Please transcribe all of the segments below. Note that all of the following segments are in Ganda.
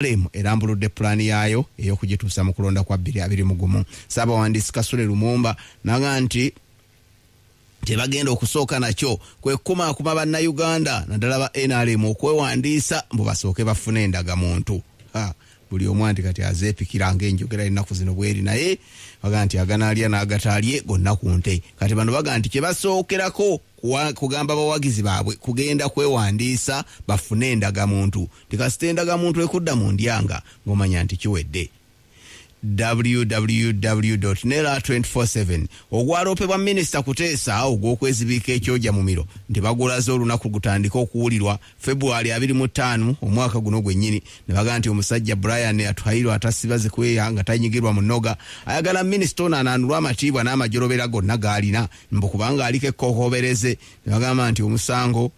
Nrm erambuludde pulaani yaayo ey'okugituusa mu kulonda kwa bbiri abiri mu gumu ssaabawandiisi Kasule Lumumba naga nti kyebagenda okusooka nakyo kwe kukumaakuma bannayuganda naddala ba nrm okwewandiisa mbu basooke bafune endagamuntu buli omu anti kati azeepikira ngaenjogera ennaku zino bweri naye baga nti aganaalya n'agataalye gonna ku nte kati bano baga nti kyebasookerako kugamba bawagizi baabwe kugenda kwewandiisa bafune endagamuntu nti kasita endagamuntu ekudda mu ndyanga ng'omanya nti kiwedde www nera 247 ogwaloopebwa minisita kuteesa ogw'okwezibiika ekyoja mumiro nti bagulaze olunaku gutandika okuwulirwa februari 25 omwaka guno gwennyini ne baga nti omusajja brian atuhairwa atasiba zikweya nga tanyigirwa mu noga ayagala minisita ono anaanulwa amatiibwa n'amajolobera gonna gaalina mbu kubanga aliko ekkokoobereze ne bagamba nti omusango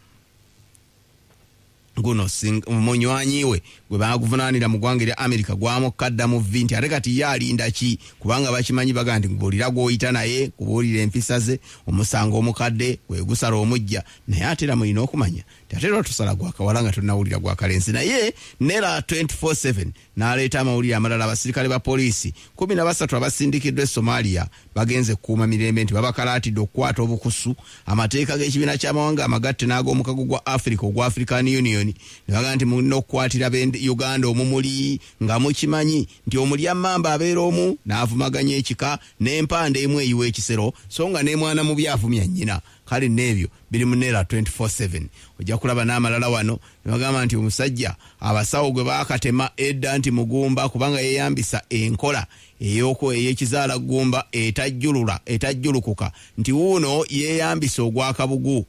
guno munywanyi we gwe baaguvunaanira mu ggwanga erya amerika gwamukkadda mu vvi nti ate kati ye alinda ki kubanga bakimanyi baga nti mbuulira gw'oyita naye kubuulira empisa ze omusango omukadde gwe gusala omujja naye ate era mulina okumanya nti ate era tusala gwakawala nga tonawulira gwakalenzi naye nera 247 n'aleeta amawulire amalala abasirikale ba poliisi kumi na basatu abasindikiddwa e somalia bagenze kukuuma mirembe nti babakalaatidde okukwata obukusu amateeka g'ekibiina ky'amawanga amagatte n'ag'omukago gwa africa ogwa african union ne bagamba nti mulina okukwatira uganda omumuli nga mukimanyi nti omulya mamba abeera omu n'avumaganya ekika n'empanda emu eyiwa ekisero so nga n'emwana mubi avumya nnyina kale n'ebyo biri mu neera 247 ojja kulaba n'amalala wano ne bagamba nti omusajja abasawo gwe baakatema edda nti mugumba kubanga yeeyambisa enkola eyoko ey'ekizaala ggumba etajjulula etajjulukuka nti wuuno yeeyambisa ogwakabugu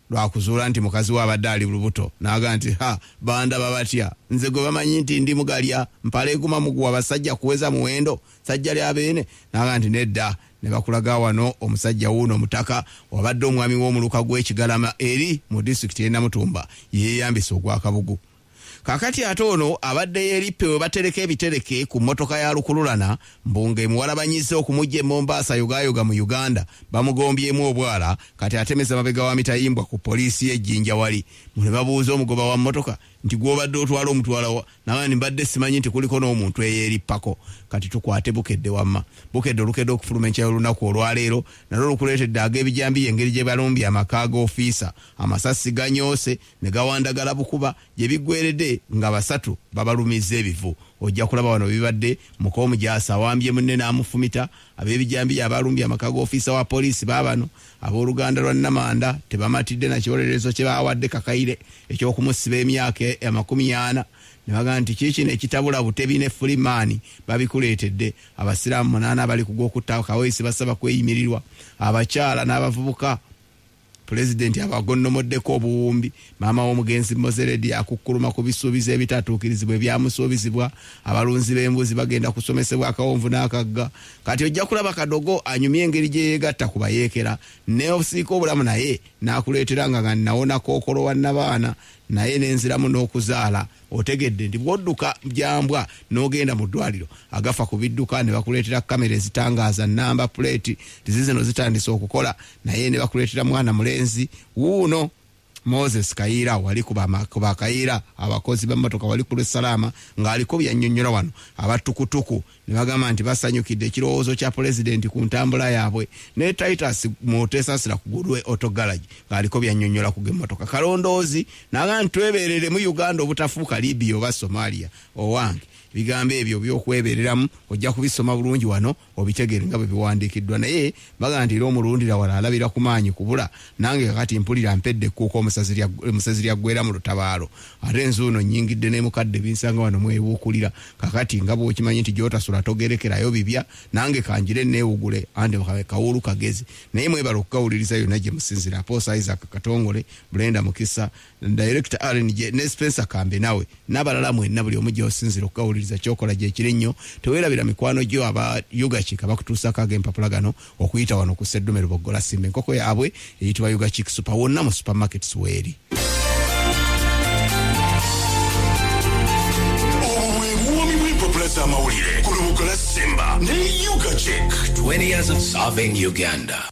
lwakuzuula nti mukazi we abadde ali lubuto naaga nti ha bandaba batya nze gwe bamanyi nti ndi mugalya mpala eguma muguwa basajja kuweza muwendo sajja lya beene naaga nti nedda ne bakulaga wano omusajja wuuno omutaka wabadde omwami w'omuluka gw'e Kigalama eri mu disitulikiti y'e Namutumba yeeyambisa ogw'akabugu. Kaakati ate ono abadde yeerippe we batereka ebitereke ku mmotoka ya lukululana mbu ng'emuwalabanyizza okumuggya e Mombasa yogaayoga mu Uganda bamugombyemu obwala kati atemeza mabega wa mitayimbwa ku poliisi y'e Jinja wali mu ne babuuza omugoba wa mmotoka nti gwobadde otwala omutwalawa nabandi mbadde simanyi nti kuliko n'omuntu eyerippako kati tukwate bukedde wamma bukedde olukedde okufuluma enkya y'olunaku olwaleero nalwo lukuleetedde ag'ebijambiya engeri gye balumbye amaka ga ofiisa amasasi ganyoose ne gawandagala bukuba gye biggweredde nga basatu babalumizza ebivu ojja kulaba wano bibadde muka omujaasi awambye munne n'amufumita Ab'ebijambiya abaalumbye amaka g'ofiisa wa poliisi baabano abooluganda lwa Namanda tebamatidde na kiwolerezo kye baawadde Kakaire eky'okumusiba emyaka e-, amakumi ana ne bagamba nti kiikino ekitabula Butebi ne Fulimaani babikuleetedde. Abasiraamu munaana abali ku gw'okutta Kaweesi basaba kweyimirirwa. Abakyala n'abavubuka Pulezidenti abagonnomoddeko obuwumbi. Maama w'omugenzi Mozeredi akukkuluma ku bisuubizo ebitatuukirizibwa ebyamusuubizibwa. Abalunzi b'embuzi bagenda kusomesebwa akawonvu n'akagga. Kati ojja kulaba Kadogo anyumya engeri gye yeegatta ku bayeekera. Nneeosiika obulamu naye n'akuleetera nga nga nnawona kookolo wa nnabaana naye ne nziramu n'okuzaala. Otegedde nti bw'odduka gya mbwa n'ogenda mu ddwaaliro agafa ku bidduka ne bakuleetera kkamera ezitangaaza nnamba puleeti nti zizino zitandise okukola naye ne bakuleetera mwana mulenzi wuuno Moses Kayiira wali ku ba Kayiira abakozi b'emmotoka wali ku lw'e Salaama ng'aliko byannyonnyola wano abattukutuku ne bagamba nti basanyukidde ekirowoozo kya pulezidenti ku ntambula yaabwe ne titus mutesasira ku gulwe auto garage ng'aliko byanyonyola ku gemmotoka kalondoozi naga nti twebeereremu uganda obutafuuka libia oba somalia owange ebigambo ebyo byokwebereramu ojja kubisoma bulungi wano obitegeere nga bwe biwandiikiddwa naye Bagamba nti era omulundira wala alabira ku maanyi kubula, nange kakati mpulira mpedde ekkuuka omusezi lyaggweera mu lutabaalo ate nzuuno nnyingidde n'emukadde binsanga wano mwebuukulira. Kakati nga bw'okimanyi nti gy'otasula togerekerayo bibya, nange kangire nneewugule anti kabe kawuulu kagezi. Naye mwebale okugawuliriza yonna gye musinzira. Apostle Isaac Katongole, Brenda Mukisa, director rnj ne spencer kambe nawe n'abalala mwenna buli omu gyosinzira okukawuliriza kyokola gyekiri nnyo tewerabira mikwano gyo aba ugachik abakutuusako ag'empapula gano okuyita wano ku seddume luboggola simba enkoko yaabwe eyitibwa ugachik super wonna mu supermarkets weeri amawulire ku lubugo la simba ne ugachik 20 years of serving uganda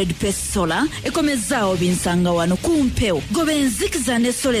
Red Pest Solar ekomezaawo binsanga wano ku mpewo goba enzikiza ne solar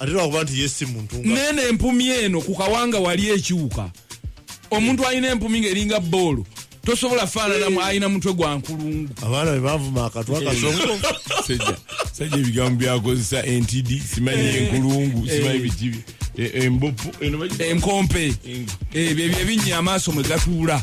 ate lwakuba nti yesi muntu nene empumi eno ku kawanga wali ekiwuka omuntu alina empumi ng'eringa boolo tosobola faananamu alina mutwe gwa nkulungu abaana be bavuma akatwa kasongo sajja ebigambo byakozesa entidi simanyi eh. enkulungu simanyi eh. bikibi eh, embopu enkompe ebyo ebinnya amaaso mwe gatuula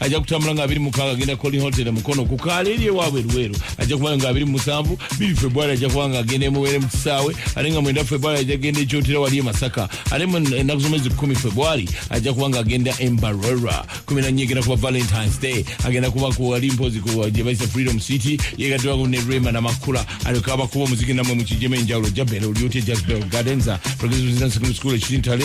ajja kutambula nga abiri mukaaga agenda koli hotel mukono ku kaala eri ewaabwe luweero ajja kuba nga abiri musanvu biri februari ajja kuba nga agenda emuweere mu kisaawe ate nga mwenda februari ajja kugenda ekyotera wali e masaka ate ennaku z'omwezi kumi februari ajja kuba nga agenda embarera kumi nannya egenda kuba valentines day agenda kuba kuwali mpozi gye bayisa freedom city yegaddwako ne rema namakula alyoka abakuba omuziki namwe mu kijemu enjawulo jabera olyotya jasbel gardenza progressive secondary school ekitintale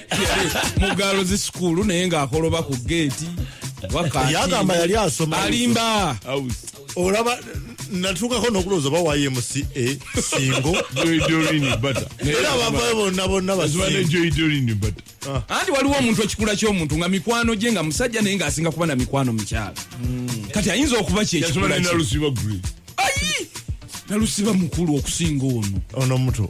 mugalo zi sukulu naye ngaakoloba ku geeti yagamba yali asoma alimba olaba natuukako nokulowooza oba wayemusi e singo era abavayo bonna bonna basingoanti ah. waliwo omuntu ekikula ky'omuntu nga mikwano gye nga musajja naye ng'asinga kuba na mikwano mukyala hmm. kati ayinza okuba kyekikula nalusiba mukulu okusinga ono ono muto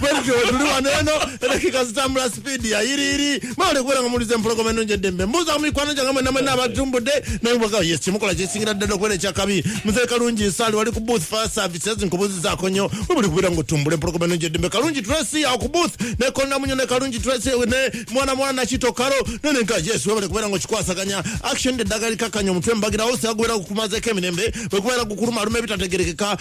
bwentyo tuli wano eno edakika zitambula sipiidi ya yiriiri mwewale kubeera nga muwuliza empologoma enungi eddembe mbuuza mu mikwano gyange mwena mwena abatumbudde naye mwaga yes kyemukola kyesingira ddala okubeera ekyakabi muzee kalungi nsaali wali ku booth fire services nkubuuzizaako nnyo webuli kubeera nga otumbula empologoma enungi eddembe kalungi tracy awo ku booth ne kondamunyo ne kalungi tracy ne mwana mwana nakito kalo nene nka yes webale kubeera nga okikwasaganya action eddagala likakkanya omutwe mbagirawo siyagubeera gukumazeeko emirembe bwekubeera gukuluma aluma ebitategerekeka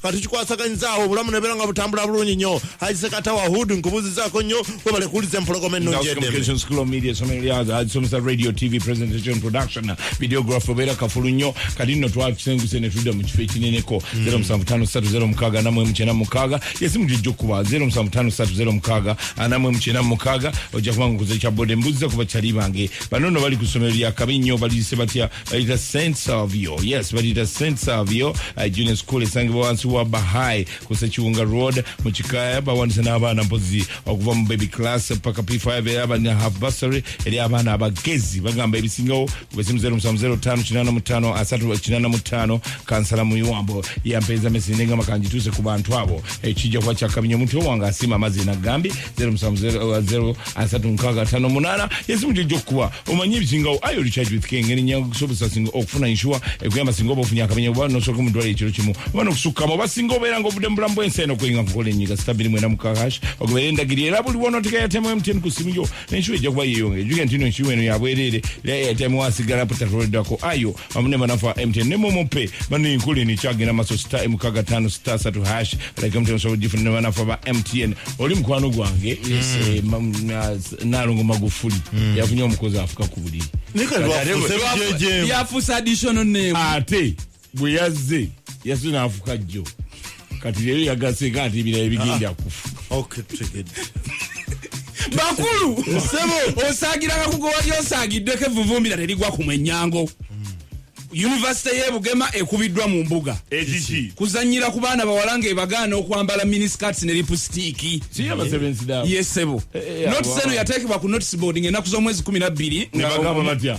nga tukikwasaganyiza awo obulamu nebeera nga butambula bulungi nnyo haisekatawa hood nkubuuzizaako nnyo webale kuwuliza empologoma ennungi edemsomesa radio tv presentation production videograph obeera kafulu nnyo kati nno twatusenguse ne tudda mu kifo ekineneko 075306 mm. namwe mukyena mukaaga yesimu gyojja okukuba 075306 namwe mukyena mukaaga ojja kuba nga okuza ekya bode mbuuziza kuba kyali bange bano no bali ku ssomero lyakabi nnyo baliyise batya balita saint savio yes balita saint savio uh, junior school esangibwa wansi wa bahai ku sekiwunga road mu kikaya bawandisa n'abaana mpozi okuva mu baby class paka p5 era balina half bursary eri abaana abagezi bagamba ebisingawo kubesimu 0705 asatu kinana mutano kansala muyiwambo yampeeza mesinde nga makangituuse ku bantu abo ekijja kuba kyakabinyo omuntu owange asiima amazzi nagambye zero musanvu zero uh, zero asatu nkaaga ataano munaana yesimu gyo gyokukuba omanye ebisingawo ayo recharge with king eri nyangu kusobozesa singa okufuna inshuwa ekuyamba singa oba ofunye akamenya oba nosooka mu ddwaliro ekiro kimu oba nokusukkamu oba singa obeera nga obudde mu bulamu bw'ensi eno okuyinga kukola enyiga sita bbiri mwenda mukaaga hash ogobeera endagiri era buli wonoteka yatemu mtn ku simu yo nenshuwa ejja kuba yeeyongera ejuge ntino enshuwa eno yabwereere era yatemu wasigala putakoleddwako ayo amune banafa mtn ne momo pay bano inkuli ni chagi na maso star mkaga tano star satu hash like mtn so jifu ne banafa ba mtn oli mkwano gwange yes. eh, mam, na, nalongo magufuli mm. yafunye omukozi afuka kubuli yafusa additional name ate bwe yazze yasina afuka jjo kati leero yagaseka ati ebirala bigenda ah. kufu bakulu sebo osagira kakugo wali osagiddeko evuvumbira terigwa ku mwenyango yunivasite ye bugema ekubiddwa mu mbuga kuzanyira ku baana bawala nga ebagaana okwambala miniscats ne lipusitiiki yesebo eh, eh, eh, notiseno yateekebwa ku notisboard ngaenaku z'omwezi 12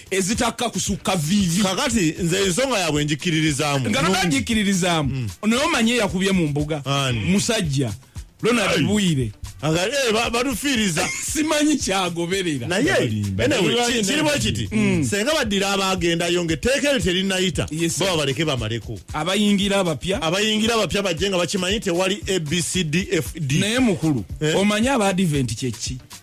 ezitakka kusukka viivi kakati nze ensonga yaabwe njikiririzaamu nga naga njikiririzaamu mm. naye omanye yakubye mu mbuga musajja ronald bwire eh, batufiiriza simanyi kyagoberera nayekirimu ekiti mm. senga baddira abaagendayo nga etteeka eryo terinayita baba baleke bamaleko abayingira abapya abayingira abapya bajje nga bakimanyi tewali abcdfd naye mukulu eh? omanyi abaadiventi kyekki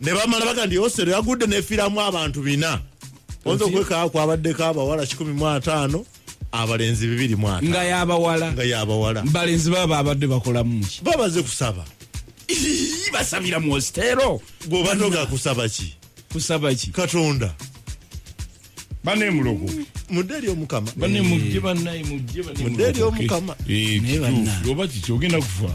ne bamala baga nti osero yagudde nefiramu abantu bina oyinza okwekaa kwabaddeko abawala kikumi mu ataano abalenzi bibiri mu ataano nga yabawala nga yabawala balenzi baba abadde bakolamuki babaze kusaba basabira mu ositero gwobanoga kusaba ki kusaba ki katonda bane mulogo mudeli omukama bane mujje banaye mujje bane mudeli omukama eh kitufu oba kiki ogenda kufa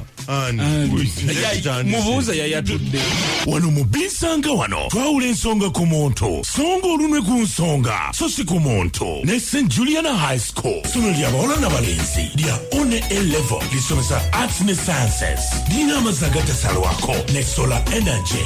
mubuuza yayatudde wano mu binsanga wano twawula ensonga ku muntu songa olunwe ku nsonga so si ku muntu ne st juliana high school sono lya bawala na balenzi lya one a level lisomesa arts ne sciences lirina amazzi agatasalwako ne solar energy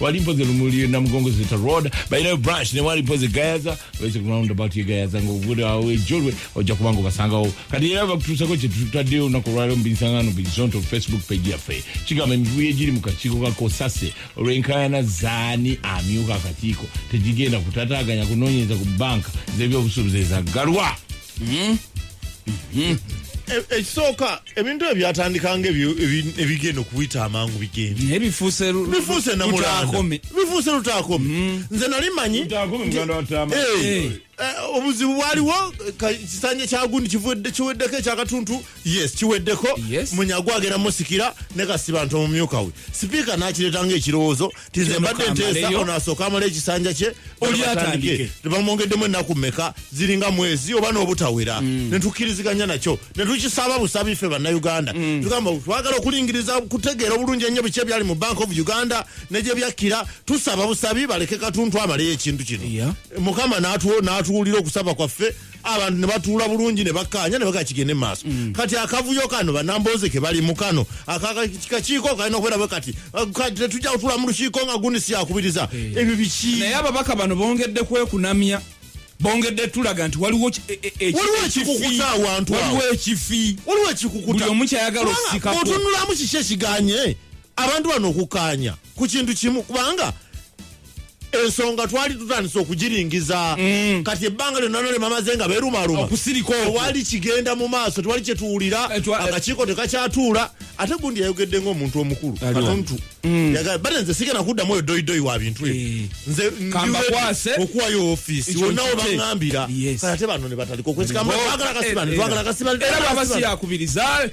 wali mpozi lumuli namugongo zita road balinayo branch ne wali mpozi gayaza wese ku roundabout ye gayaza ng'obude awo ejolwe ojja kuba nga obasangawo kati era bakutuusako kye tutaddeyo olunaku olwaleero mu binsangano bizonto facebook page yaffe kigamba emivuyo egiri mu kakiiko ka kosase olw'enkaayana zaani amyuka akakiiko tegigenda kutataganya kunoonyereza ku banka z'ebyobusuubuzi ezaggalwa hmm? Hmm? E, ekisooka ebintu ebyo byatandika nga ebigenda okuyita amangu bigendebifuuse lutaakome hmm. nze nali manyi eh, eh, obuzibu bwaliwo kisanja kyagundi kiweddeko ekyakatuntu yes kiweddeko munyagwa agenda musikira ne kasibantu omumyuka we sipiika nakireeta nga ekirowoozo tize mbadde nteesa ono asooka amala ekisanja kye olyatandike tebamwongeddemu ennaku meka ziringa mwezi oba n'obutawera mm. netukkiriziganya nakyo netukisaba busabi ffe bannayuganda mm. tugamba twagala okulingiriza kutegeera obulungi ennyo biki ebyali mu bank of uganda negye byakkira tusaba busabi baleke katuntu amaleyo ekintu kino mukama n'atuwulira okusaba kwaffe abantu ne batuula bulungi ne bakkaanya ne bagaa kigende mu maaso mm. kati akavuyo kano banambooze ke bali mu kano akakiiko kalina okubeera bwe kati tetujja kutuula mu lukiiko nga gundi siyakubiriza eh. ebyo biki naye ababaka bano bongedde kwekunamya bongedde tulaga nti waliwo e- e- e- waliwo ekikukuza awantu waliwo ekifi waliwo ekikukuta buli omu kyayagala okusikaotunulamu kiki ekiganye abantu bano okukkaanya ku kintu kimu kubanga ensonga twali tutandise okugiringiza mm. kati ebbanga lyonna nole mamaze nga berumaluma tewali kigenda mu maaso tewali kyetuwulira eh, eh. akakiiko tekakyatuula ate gundi yayogedde ngaomuntu omukulu mm. bate nze sigenda kuddamu oyo doyidoyi wa bintu ebyo eh. nze kambakwase okuwayo office wonna webaŋambira ate bano nebatandika okwesikamagala kasibani twagala kasibani era baba siyakubiriza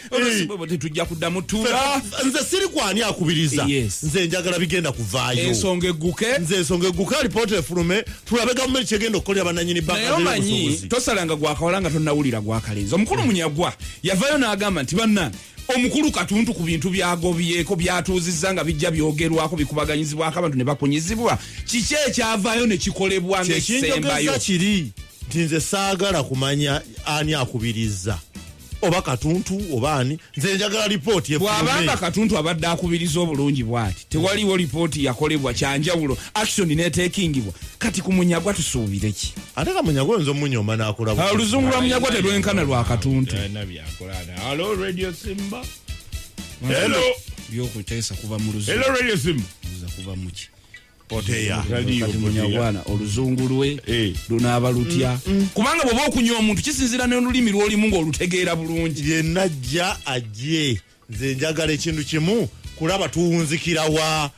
tetujja kuddamu tura nze siri kwani akubiriza nze njagala bigenda kuvaayo ensonga egguke nze ensonga egguke alipoota efulume tulabe gavumenti kyegenda okukolera bananyini banayomanyi tosalanga gwakawala nga tonawulira gwakalenzi omukulu munyagwa yavayo n'agamba nti banna omukulu katuntu ku bintu byagobyeko byatuuzizza nga bijja byogerwako bikubaganyizibwako abantu ne bakunyizibwa kiki ekyavaayo ne kikolebwa ngaesembayo kiri nti nze saagala kumanya ani akubirizza oba katuntu oba ani nze njagala lipooti bwabanga katuntu abadde akubiriza obulungi bwati tewaliwo lipooti yakolebwa kyanjawulo action netekingibwa kati ku munyagwa tusuubireki ate kamunyagwa oyinza omunyoma nakulaoluzungu lwa munyagwa terwenkana lwa katuntu Hello Radio Simba. Hello. Yo kutesa kuva mu luzungu. Hello Radio Simba. Kuza kuva muki. Poteya. Radio munyagwana oluzungu lwe eh. lunaba lutya. Mm, mm. Kubanga bwoba okunywa omuntu kisinzira ne olulimi lwoli mungu olutegeera bulungi. Ye najja ajje. Nze njagala ekintu kimu kulaba tuwunzikira wa.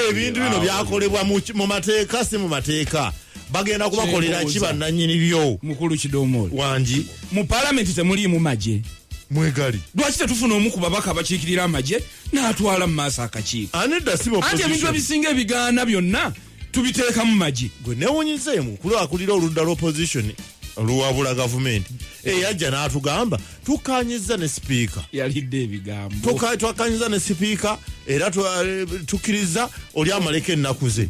ebintu bino byakolebwa mu ki- mu mateeka si mu mateeka bagenda kubakolera ki Kyendowooza. bannanyini byo mukulu kidomola wangi mu palamenti temuliimu magye mwegali lwaki tetufuna omu ku babaka abakiikirira amagye n'atwala mu maaso akakiiko anedda si anti ebintu ebisinga ebigaana byonna tubiteeka mu magye gwe newunyizeemu kulwakulira oludda lw'opposition oluwabula gavumenti eyajja n'atugamba tukanyiza ne sipiika yalidde ebigambo twakanyiza ne sipiika era eh, tukiriza oli amaleko ennaku ze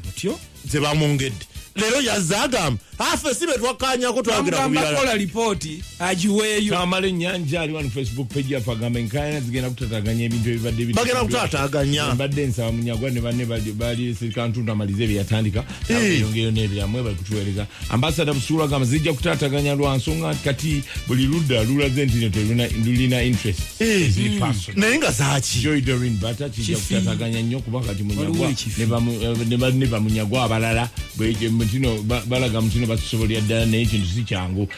zebamwongedde lero yazze agamba afe si betwakanyako twagera kubiralakola lipooti agiweeyo kamala enyanja ali wano facebook page yaffe agamba enkayana zigenda kutataganya ebintu ebibadde bagenda kutataganya mbadde nsaba munyagwa ne banne bali sirikantuntu amalize byeyatandika eyongeyo n'ebirala mwebali kutuweereza ambasada busuula gamba zijja kutaataganya lwa nsonga nti kati buli ludda lulaze nti no telulina interest naye nga zaki joy dorin bata kijja kutaataganya nnyo kuba kati munyagwa ne bamunyagwa abalala ntino balaga mutino batusobolera ddala naye kintu si kyangu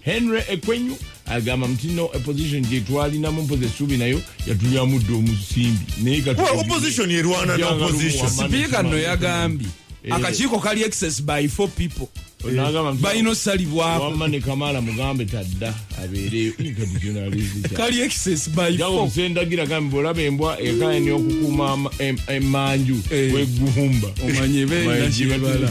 henry ekwenyu agamba nti no opposition gyetwalinamu mpozi essuubi nayo yatulyamudde omusimbi naye sipiika no yagambye eh. akakiiko kali excess by four people eh. balina osalibwawamma ne kamala mugambe tadda abeereyo kali excess by four sendagira gambe bwolaba embwa ekayani okukuuma emanju eh. wegumba omanye benakyebala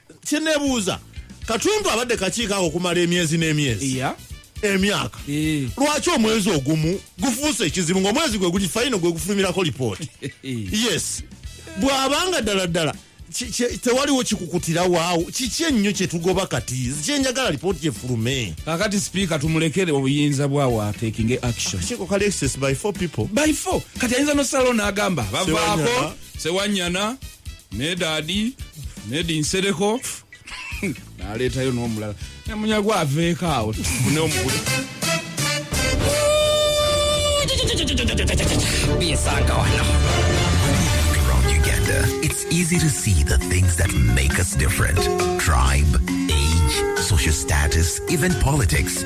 kyenebuuza katundu abadde kakiiko ako okumala emyezi n'emyezi yeah. emyaka eh. lwaki omwezi ogumu gufuuse ekizibu ngaomwezi gwe guli fayino gwe gufulumirako lipooti eh. yes bwabanga ddala ddala tewaliwo kikukutira waawo kiki ennyo kyetugoba kati kyenjagala lipooti gyefulume kakati sipiika tumulekere obuyinza bwawo atekinge action kati ayinza nosalawo n'agamba bavaako sewanyana nedadi nedi nsereko naleetayo n'omulala nemunyago aveeko awo tufune omukulu bisanga wano around Uganda, it's easy to see the things that make us different tribe, age, social status, even politics.